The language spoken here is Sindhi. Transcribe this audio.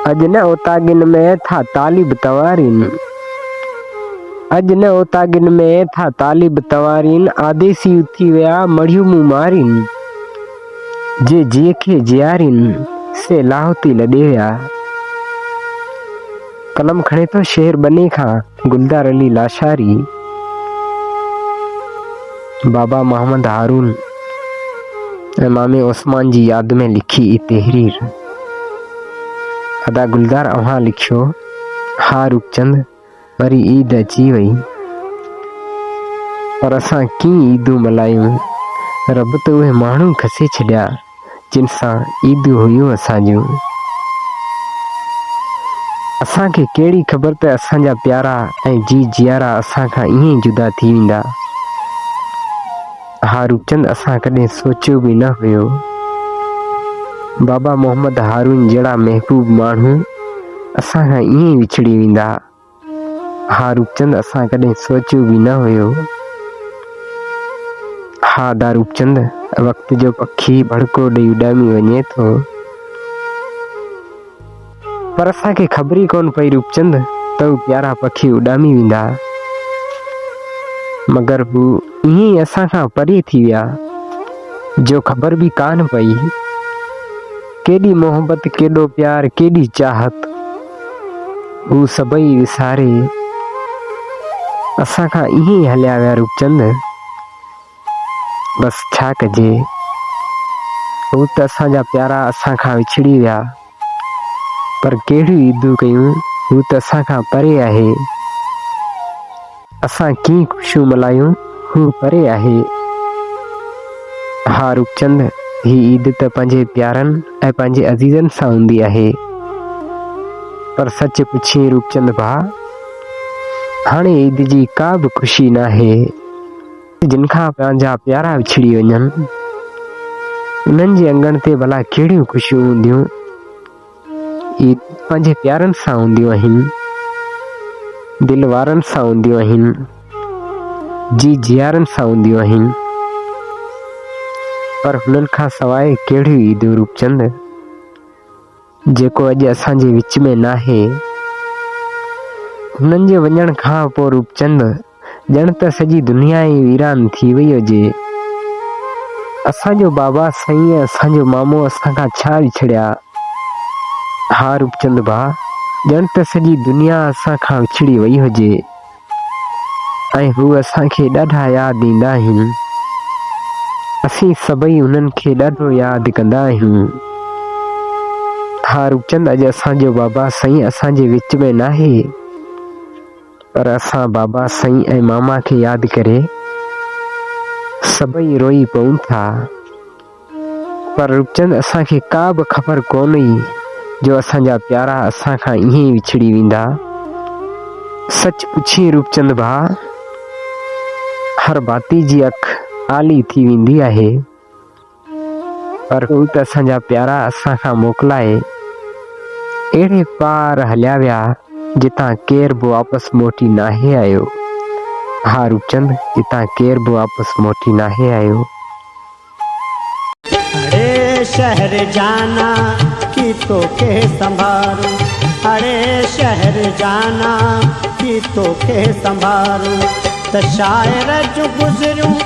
اڄ نه اوطاقين ۾ ٿا طالب تنوارين اڄ نه اوطاقين ۾ ٿا طالب تنوارين آديسي اٿي ويا مڙهيون مون مارين جي جي کي جيارين سي لاهوتي لڏي ويا قلم کڻي ٿو شهر بني کان گلدار علي لاشاري بابا محمد هارون ۽ مامي عثمان جي ياد ۾ لکي اي تحرير ادا گلدار اوهان لکيو ها رکچند وري عيد اچي وئي پر اسان ڪين عيدون ملهايون رب ته اهي ماڻهو کسي ڇڏيا جن سان عيدون هيون اسان جون. اسان کي ڪهڙي خبر ته اسان جا پيارا ۽ جي جيارا اسان کان ائين ئي جدا ٿي ويندا. اها روپچند اسان ڪڏهن سوچيو به نه هيو. بابا محمد هارون جهڙا محبوب ماڻهو اسان کان ائين ئي وڇڙي ويندا. ها روپچند اسان ڪڏهن سوچيو به نه هيو. ها داروپچند وقت جو پکي ڀڙڪو ڏئي اڏامي وڃي ٿو. پر اسان کي خبر ئي ڪون پئي روپچند ته هو پيارا پکي اڏامي ويندا. مگر هو ائين ئي اسان کان پري ٿي ويا جو خبر به ڪانه پئي. ڪيڏي محبت، ڪيڏو پيار، ڪيڏي چاهت، هو سڀئي وساري اسان کان ائين ئي هليا ويا روپچند! بس ڇا ڪجي، هو ته اسان جا پيارا اسان کان وڇڙي ويا، پر ڪهڙيون عيدون ڪيون، هو ته اسان کان پري آهي. اسان ڪيئن خوشيون ملهايون، هو پري آهي. ها روپچند، هي عيد ته پنهنجي پيارن ۽ پنهنجي عزيزن سان هوندي آهي. پر سچ پڇين روپچند ڀاء، هاڻي عيد جي ڪا به خوشي ناهي. جن کان پنهنجا پيارا وڇڙي وڃن، انهن جي اڱڻ تي ڀلا ڪهڙيون خوشيون هونديون؟ اي پنهنجي پيارن سان هونديون آهن، دل وارن سان هونديون آهن، جي جيارن سان هونديون آهن، پر هنن کان سواء ڪهڙيون عيدون روپچند، جيڪو اڄ اسان جي وچ ۾ ناهي. هنن جي وڃڻ کان پوء روپچند ڄڻ ته سڄي دنيا ئي ويران ٿي وئي هجي. اسان جو بابا سائين ۽ اسان جو مامو اسان کان ڇا وڇڙيا؟ ها روپچند ڀاء، ڄڻ ته سڄي دنيا اسان کان وڇڙي وئي هجي ۽ هو اسان کي ڏاڍا ياد ايندا آهن. اسين سڀئي انهن کي ڏاڍو ياد ڪندا آهيون. ها روپچند، اڄ اسان جو بابا سائين اسان جي وچ ۾ ناهي. پر اسان بابا سائين ۽ ماما کي ياد ڪري سڀئي روئي پئون ٿا. پر روپچند اسان کي ڪا به خبر ڪونه هئي جو اسان جا پيارا اسان کان ائين ئي وڇڙي ويندا. سچ پڇين روپچند ڀاء، هر ڀاتي جي اک آلي ٿي ويندي آهي. پر هو ته اسان جا پيارا اسان کان موڪلائي اهڙي پار هليا ويا جتان ڪير به واپس موٽي ناهي آيو. ها روپچند جتان ڪير به واپس موٽي ناهي آيو. اڙي شهر جانا ڪي توکي سنڀارون اڙي شهر جانا ڪي توکي سنڀارون ته شاعر جون گذريون.